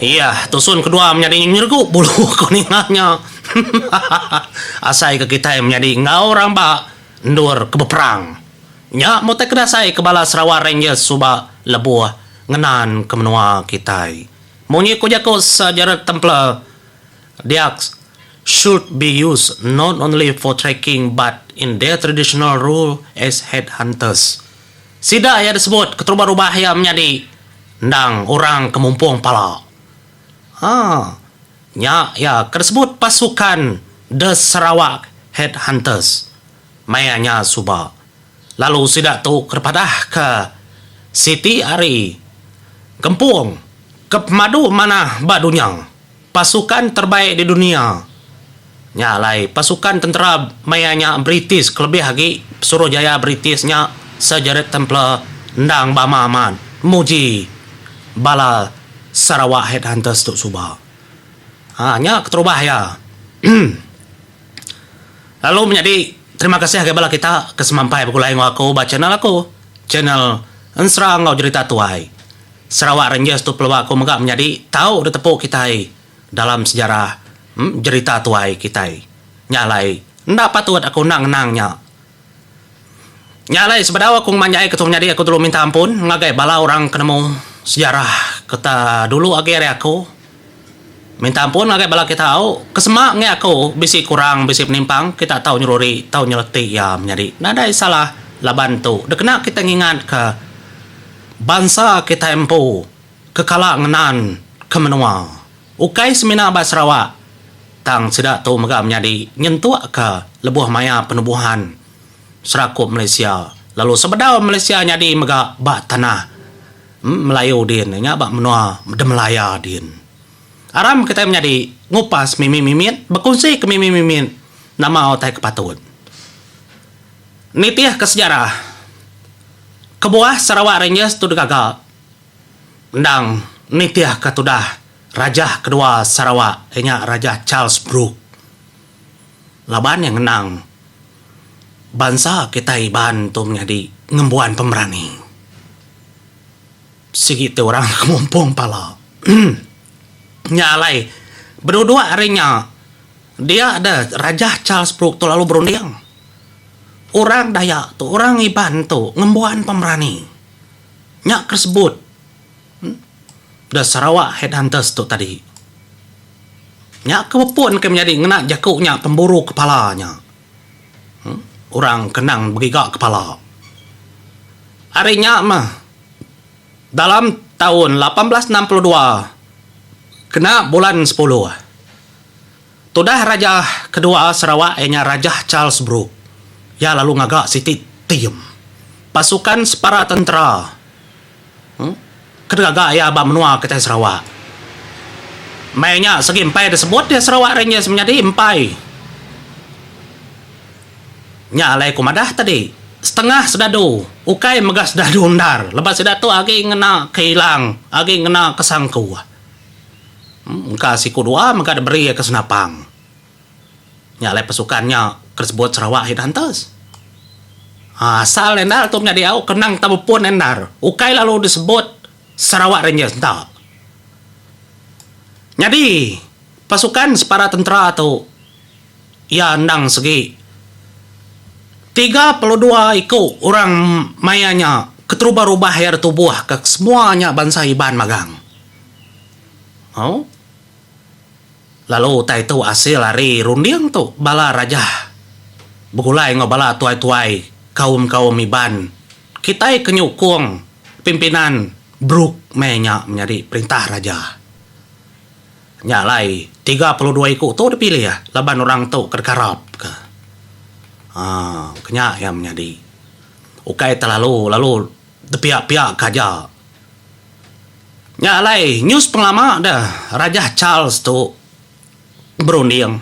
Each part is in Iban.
Iya, tusun kedua menyadi nyergu bulu ko ninga nya. Asai ke kitai menyadi enggau orang ba endur ke beperang. Nya meh utai ke dasai ke bala Sarawak Rangers suba lebuh ngenan ke menua kitai. Munyi ko jaku Sir Gerald Templer, Diaks should be used not only for tracking but in their traditional role as headhunters. Sida iya disebut keterubah rubah iya menyadi endang orang ke mumpung pala. Ha, nya iya ke disebut pasukan The Sarawak Headhunters maya nya suba. Lalu sida tu ke dipadahka siti ari gempung ke pemadu manah ba dunya. Pasukan terbaik di dunia. Nya alai, pasukan tentera maya nya British kelebih agi Suruhjaya British nya Sir Gerald Templer endang bama amat muji bala Sarawak Headhunters tu suba. Haa nya keterubah iya lalu menyadi terima kasih ngagai bala kita ke semampai begulai enggau aku ba channel aku, channel Ensera enggau Jerita Tuai. Sarawak Rangers tu pelua ku mega menyadi tau ditepu kitai dalam sejarah jerita tuai kitai. Nya alai enda patut aku endang ngenang nya. Nya alai sebedau aku ngemanjai ke tu menyadi aku telu minta ampun ngagai bala orang ke nemu sejarah ke dulu agi ari aku. Minta ampun ngagai bala ke tau ke sema enggei aku bisi kurang bisi penimpang kita tau nyeruri tau nyereti iya menyadi nadai salah laban tu dikena kita ngingat ka bansa kitai empu ke kala ngenan ke menua ukai semina ba Sarawak tang sida tu mega menyadi nyentuk ka lebuh maya penubuhan serakup Malaysia lalu sebedau Malaysia nyadi mega ba tanah Melayu din nya ba menua Demelaya din. Aram kitai menyadi ngupas mimit-mimit bekunsi ke mimit-mimit nama utai ke patut. Nitih ke sejarah kebuah Sarawak Rangers tu digaga endang nitih ke tudah Rajah kedua Sarawak iya nya Rajah Charles Brook laban iya ngenang bansa kitai Iban tu menyadi ngembuan pemerani. Sigi ti orang ngemumpung pala. Nya alai beduduk ari nya dia deh Rajah Charles Brooke tu lalu berunding. Orang Dayak tu, orang Iban tu ngembuan pemerani. Nya ke sebut The Sarawak Headhunters tu tadi. Nya ke bepunka menyadi ngena jaku nya pemburu kepala nya. Orang kenang begiga kepala. Ari nya mah, dalam taun lapan belas enam puluh dua, kena bulan sepuluh, tudah raja kedua Sarawak iya nya Raja Charles Brooke, iya lalu ngaga siti tim pasukan separa tentera. Ke gaga iya ba menua kitai Sarawak. Meh nya segi empai disebut iya Sarawak Rangers menyadi empai. Nya alai ku madah tadi, setengah sedadu ukai mega sedadu endar laban sida tu agi ngena ke ilang, agi ngena ke sangku. Engka siku dua mega diberi iya ke senapang. Nya alai pasukan nya ke disebut Sarawak Headhunters. Ha, asal endar tu menyadi au ke nang tau bepun endar, ukai lalu disebut Sarawak Rangers enda. Nyadi, pasukan separa tentera tu iya endang segi tiga puluh dua iku orang maya nya keterubah rubah iya ditubuh ke semua nya bansa Iban magang. Au. Lalu utai tu asil ari runding tu bala raja begulai enggau bala tuai-tuai kaum-kaum Iban kitai ke nyukung pimpinan Brooke meh nya menyadi perintah raja. Nya alai tiga puluh dua iku tu dipilih laban orang tu ke deka rap ke. Haa ke nya iya menyadi. Ukai telalu lalu. Tepiak-piak ke aja. Nya alai news pengelama deh Rajah Charles tu berunding.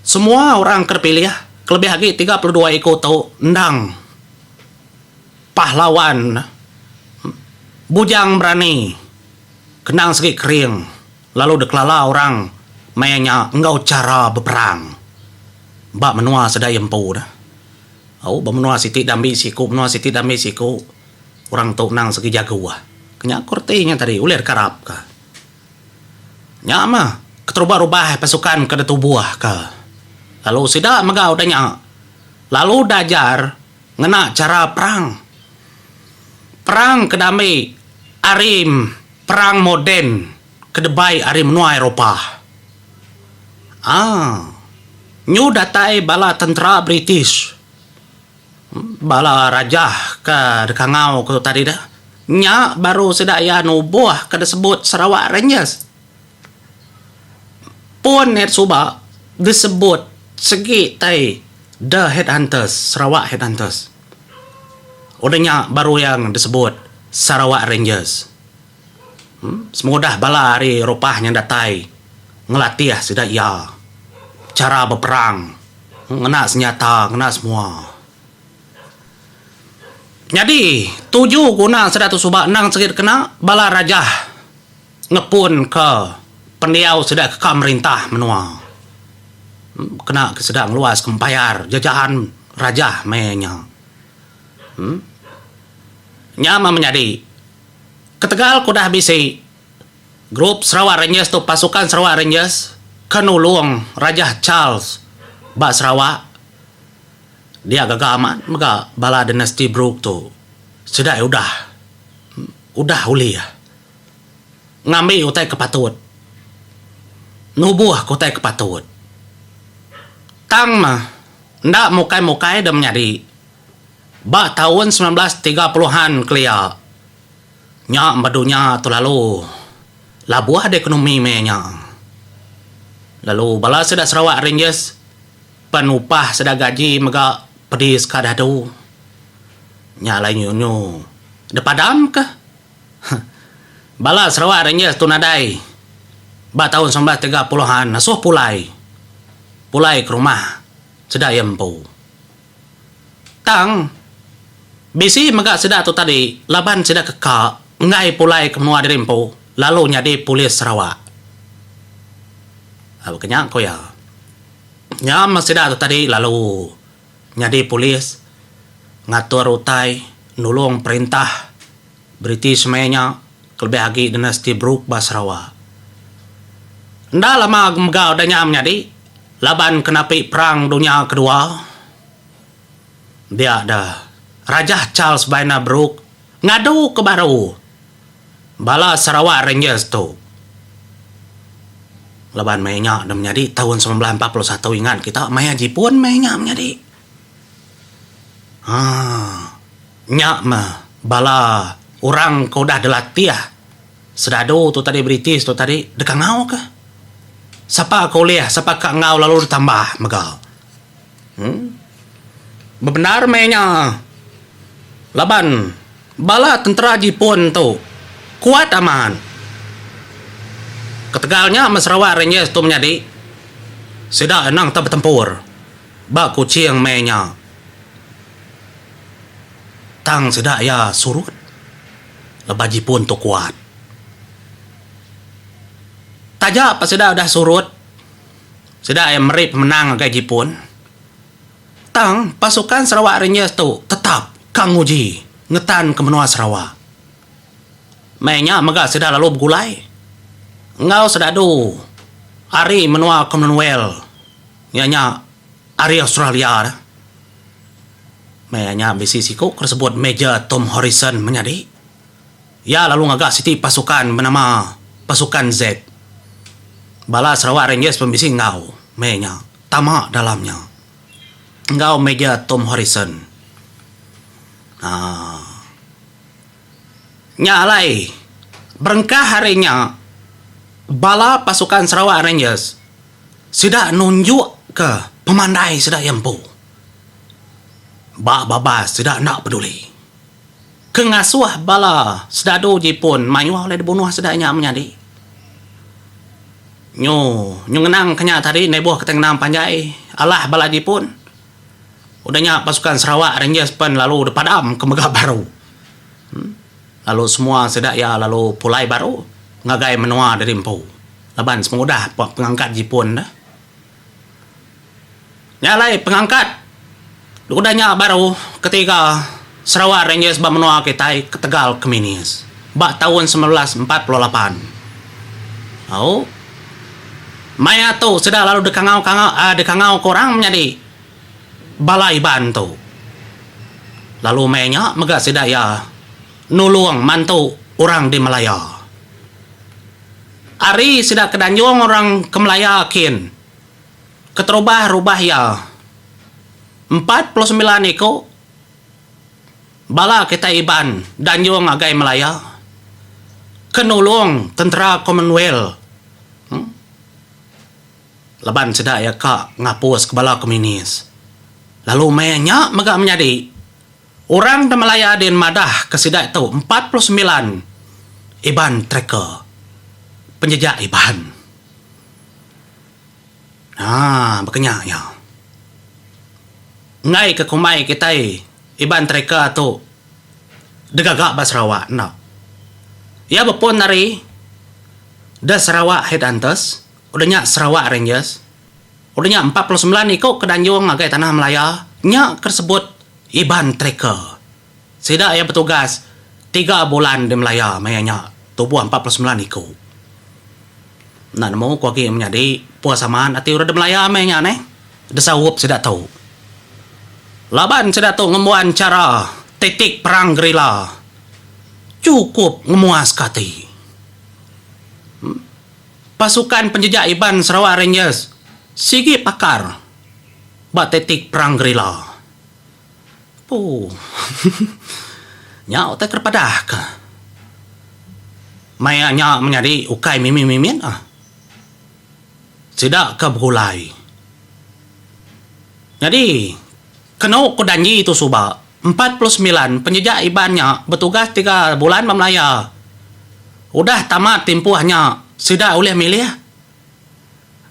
Semua orang ke dipilih kelebih agi tiga puluh dua iku tu endang pahlawan bujang berani kendang segi kering. lalu dikelala orang maya nya enggau chara beperang ba menua sedaya empu dah. Au, ba menua siti diambi siku, menua siti diambi siku, orang tu endang segi jagu ah. Ke nya ku reti nya tadi, ulih dikarapka. Nya mah, keterubah rubah pasukan ke ditubuhka. Lalu sida mega udah nya, lalu diajar ngena chara perang. Perang ke diambi Arim. Perang moden ke debai ari menua Eropa. A. Nyu datai bala tentera British, bala rajah ke dikangau ku tadi dah, nya baru sida iya nubuh ke disebut Sarawak Rangers. Pun iya suba disebut sigi tai The Headhunters, Sarawak Headhunters. Udah nya baru iya disebut Sarawak Rangers. Semudah bala ari Eropah nya datai ngelatih sida iya chara beperang ngena senjata ngena semua. Nyadi tuju guna sida tu suba endang sigi dikena bala rajah. ngepunka pendiau sida ke ka merintah menua kena ke sida ngeluaska embayar jejahan rajah maya nya. Em nya meh menyadi ketegal ke udah bisi grup Sarawak Rangers tu pasukan Sarawak Rangers ke nulung Rajah Charles ba Sarawak dia gaga amat mega bala dinasti Brooke tu sida udah udah ulih. ngambi utai ke patut, nubuh ke utai ke patut. Tang meh, enda mukai-mukai deh menyadi. Ba taun semilan belas tiga puluh an kelia, nya meh dunya tu lalu labuh deh ekonomi meh nya. Lalu bala sida Sarawak Rangers pen upah sida gaji mega pedi sekadar tu. Nya alai nyu-nyu dipadamkah? Bala Sarawak Rangers tu nadai ba taun semilan belas tiga puluh an ngasuh pulai pulai ke rumah sida iya empu. Tang bisi mega sida tu tadi laban sida ke ka enggai pulai ke menua diri empu lalu nyadi polis Sarawak. Baka nya ku iya. Nyama sida tu tadi lalu. nyadi polis ngatur utai nulung perintah British maya nya kelebih agi Dinasti Brooke ba Sarawak. Enda lama mega udah nya menyadi laban ke napi Perang Dunya Kedua dia da Rajah Charles Bainer Brooke ngadu ke baru. Bala Sarawak Rangers tu laban maya nya deh menyadi taun semilan belas empat puluh satu ingat kita maya Jipun maya nya menyadi. Haa nya meh bala orang ke udah dilatih sedadu tu tadi British tu tadi deka ngau kah. Sapa ke ulih sapa ka ngau lalu ditambah mega. Em bebendar maya nya laban Bala tentera Jipun tu kuat amat. Ketegal nya meh Sarawak Rangers tu menyadi, sida endang tau betempur ba Kuching meh nya tang sida iya surut laban Jipun tu kuat. Taja pa sida udah surut, sida iya meri pemenang ngagai Jipun Tang, pasukan Sarawak Rangers tu tetap ka nguji ngetan ke menua Sarawak. Meh nya mega sida lalu begulai enggau sedadu ari menua Commonwealth iya nya ari Australia. Meh iya nya bisi siku ke disebut Major Tom Horrison menyadi. Iya lalu ngaga siti pasukan benama Pasukan Z. Bala Sarawak Rangers pun bisi enggau meh nya tama dalam nya enggau Major Tom Horrison. Haa. Nya alai berengkah ari nya bala pasukan Sarawak Rangers sida nunjukka pemandai sida iya empu ba babas sida enda peduli. ke ngasuh bala sedadu Jipun mayuh ulih dibunuh sida nya menyadi. Nyu nyu ngenang ke nya tadi endai boh kitai ngenang panjai alah bala Jipun udah nya pasukan Sarawak Rangers pen lalu dipadam ke mega baru em lalu semua sida iya lalu pulai baru ngagai menua diri empu laban semua udah pengangkat Jipun dah. Nya alai pengangkat udah nya baru ketiga Sarawak Rangers ba menua kitai ketegal ke Minis ba taun semilan belas empat puluh lapan. Au maya tu sida lalu dikangau kangau um dikangau ke orang menyadi bala Iban tu. Lalu meh nya mega sida iya nulung mantu orang di Malaya. Ari sida ke danjung orang ke Malaya kin keterubah rubah iya empat puluh semilan iku bala kitai Iban danjung agai Malaya ke nulung tentera commonwealth laban sida iya ka ngapus ke bala komunis lalu meh nya mega menyadi Orang Temalaya din madah ke sida tu empat puluh sembilan Iban tracker penjejak Iban. Haa baka nya iya. Enggai ke kumbai kitai Iban tracker tu degaga ba Sarawak enda. Iya bepun ari The Sarawak Headhunters udah nya Sarawak Rangers. Udah nya empat puluh semilan iku ke danjung ngagai tanah Malaya nya ke disebut Iban Trika. Sida iya betugas tiga bulan di Malaya maya nya tubuh empat puluh semilan iku. Enda nemu ku agi menyadi Puas Aman ati orang di Malaya maya nya neh disaup sida tu. Laban sida tu ngembuan chara taktik perang gerila chukup ngemuaska ati. Pasukan Penjejak Iban Sarawak Rangers sigi pakar ba taktik perang gerila. Ooh. Nya utai ke dipadah ke. Maya nya menyadi ukai mimit-mimit ah. Sida ke begulai. Nyadi. Kenu ku danji tu suba, empat puluh semilan penjejak Iban nya betugas tiga bulan ba Malaya. Udah tamat timpuh nya, sida ulih milih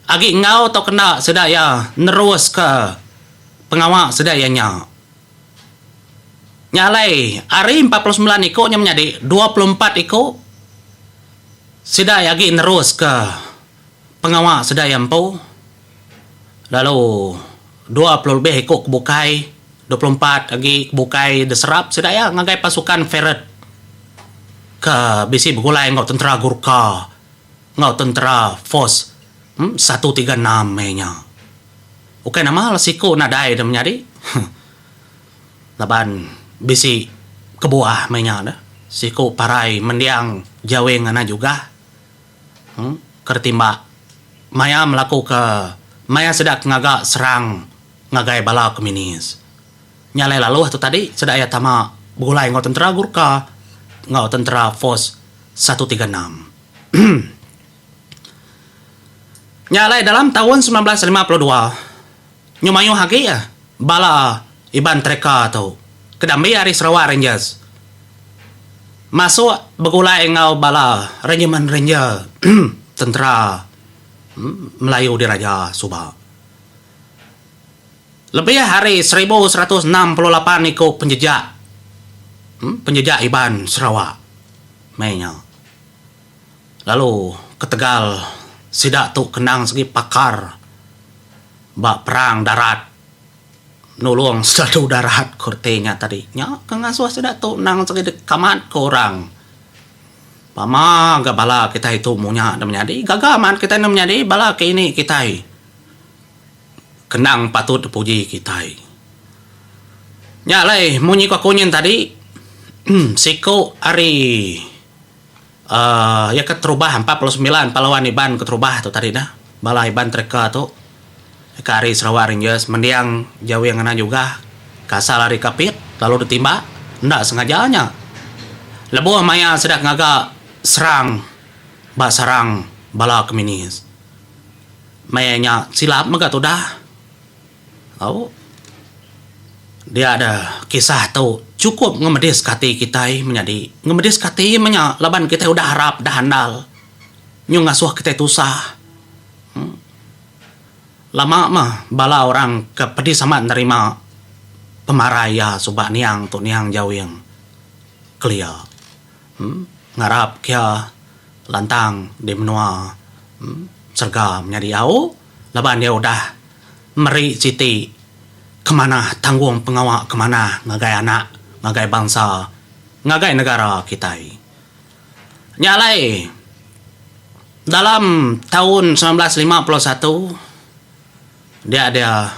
agi enggau tauka enda sida iya neruska pengawa sida iya nya. Nya alai, ari empat puluh semilan iku nya menyadi dua puluh empat iku sida iya agi neruska. Pengawa sedia iya empu, lalu dua puluh lebih iku ke bukai, dua puluh empat agi ke bukai diserap sida iya ngagai pasukan Ferret ke bisi begulai enggau tentera Gurkha enggau tentera Force satu tiga enam meh inya. Ukai nama lah siku nadai deh menyadi laban bisi kebuah meh inya deh. Siku parai mendiang Jawing Anai Jugah. ke ditimba maya melakuka maya sida ke ngaga serang ngagai bala komunis. Nya alai lalu tu tadi sida iya tama begulai enggau tentera Gurka enggau tentera Force satu tiga enam. Nya alai dalam taun semilan belas lima puluh dua. Nyu mayuh agi bala Iban Trika tu ke diambi ari Sarawak Rangers masuk begulai enggau bala Regimen Ranger Tentera Melayu Diraja suba. Lebih ari seribu seratus enam puluh lapan iku penjejak penjejak Iban Sarawak meh nya. Lalu ketegal sida tu kenang segi pakar ba perang darat nulung selalu darat ku reti nya tadi nya ke ngasuh sida tu nang segi dikamat ke orang pama ga bala kitai tu munya da menyadi gaga mat kitai enda menyadi bala ke ini kitai kenang patut dipuji kitai nya alai munyi ku aku nyin tadi siku ari. uhh iya keterubah empat puluh sembilan pahlawan Iban keterubah tu tadi neh bala Iban tracker tu ke ari Sarawak Rangers mending Jawi Ngena Jugah ke asal ari Kapit lalu ditimba enda sengaja nya lebuh maya sida ngaga serang ba sarang bala komunis maya nya silap mega tudah. Au. Dia da kisah tu chukup ngemediska ati kitai menyadi. Ngemediska ati iya meh nya laban kitai udah arap, udah andal. Nyu ngasuh kitai tusah. Em. Lama meh bala orang ke pedi sama nerima pemarai iya suba niang tu niang Jawing kelia. Em. Ngarap ke iya lantang di menua serega menyadi. Au. laban iya udah meri siti ke manah tanggungpengawa ke manah ngagai anak, ngagai bansa, ngagai negara kitai. Nya alai dalam taun semilan belas lima puluh satu dia dia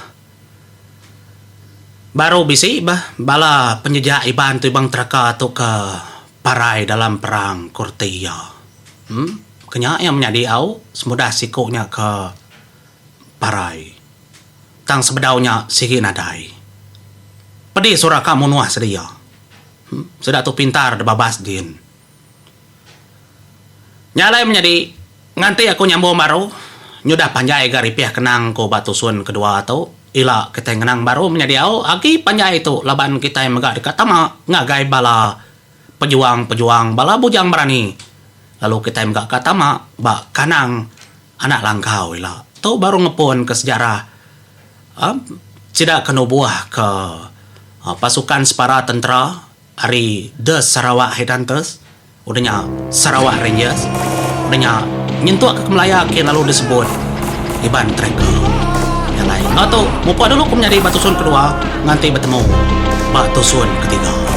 baru bisi bah bala penjejak Iban tu Ibang Teraka tu ke parai dalam perang ku reti iya. Em ke nya iya menya diau semudah siku nya ke parai. Tang sebedau nya sigi nadai. Pedi sura ka munuh sedia. Em sida tu pintar debabas din. Nya alai menyadi. Nganti aku nyambung baru, nyudah panjai ga ripih kenang ku ba tusun kedua tu, ila kitai ngenang baru menyediau agi panjai tu laban kitai mega deka tama ngagai bala pejuang-pejuang bala Bujang Berani lalu kitai mega ka tama ba kandang anak langkau ila. Tu baru ngepunka sejarah sida ke nubuhka pasukan separa tentera Ari The Sarawak Headhunters, udah nya Sarawak Rangers, udah nya nyentuk ke Kemelaya ke lalu disebut Iban Tracker. Nya alai, enggau tu mupuk dulu ku menyadi ba tusun kedua nganti betemu ba tusun ketiga.